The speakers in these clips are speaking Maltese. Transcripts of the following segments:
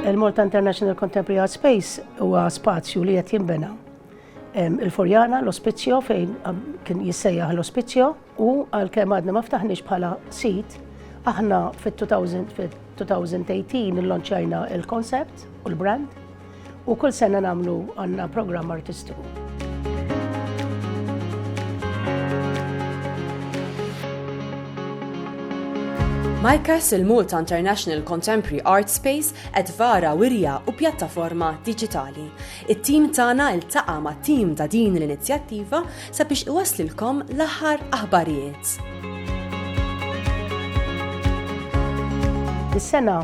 Il-Malta International Contemporary Art Space huwa spazju li qed jinbena il-Furjana, l-Ospizio, fejn kien jissejjaħ l-Ospizio, u għal kem għadna ma ftaħniex bħala sit, aħna fit-2018 il-lonċajna il-koncept u l-brand, U kull sena nagħmlu għandna programm artistiku. MICAS il-Malta International Contemporary Art Space qed vara wirja u pjattaforma diġitali. It-tim tagħna ltaqa' ma' tim ta' din l-inizjattiva sabiex iwaslilkom l-aħħar aħbarijiet. Is-sena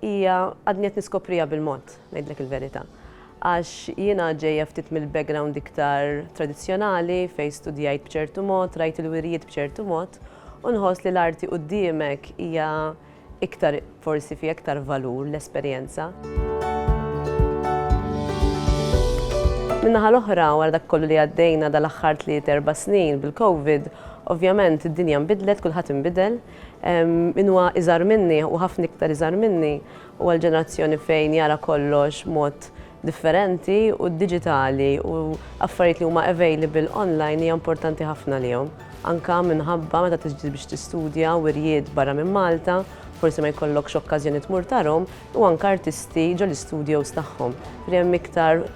Hija għadni qed niskopriha bil-mod, ngħidlek il-verità. Għax jiena ġejja ftit mill-background iktar tradizzjonali fejn studjajt b'ċertu mod, rajt il-wirjiet b'ċertu mod, u nħoss li l-arti quddiemek hija iktar forsi fiha iktar valur l-esperjenza. Min-naħa l-oħra, wara dak kollu li għaddejna dal-aħħar tliet erba' snin bil-Covid, ovvjament id-dinja nbidlet, kulħadd inbidel, Min huwa iżgħar minni, u ħafna iktar iżgħar minni, huwa l-ġenerazzjoni fejn jara kollox b'mod differenti u d-diġitali u affarijiet li huma available online hija importanti ħafna għalihom. Anke minħabba meta tiġi biex tistudja wirjiet barra minn Malta, forsi ma jkollokx okkażjoni tmur tarhom, u anke artisti ġol-istudios tagħhom, li hemm iktar,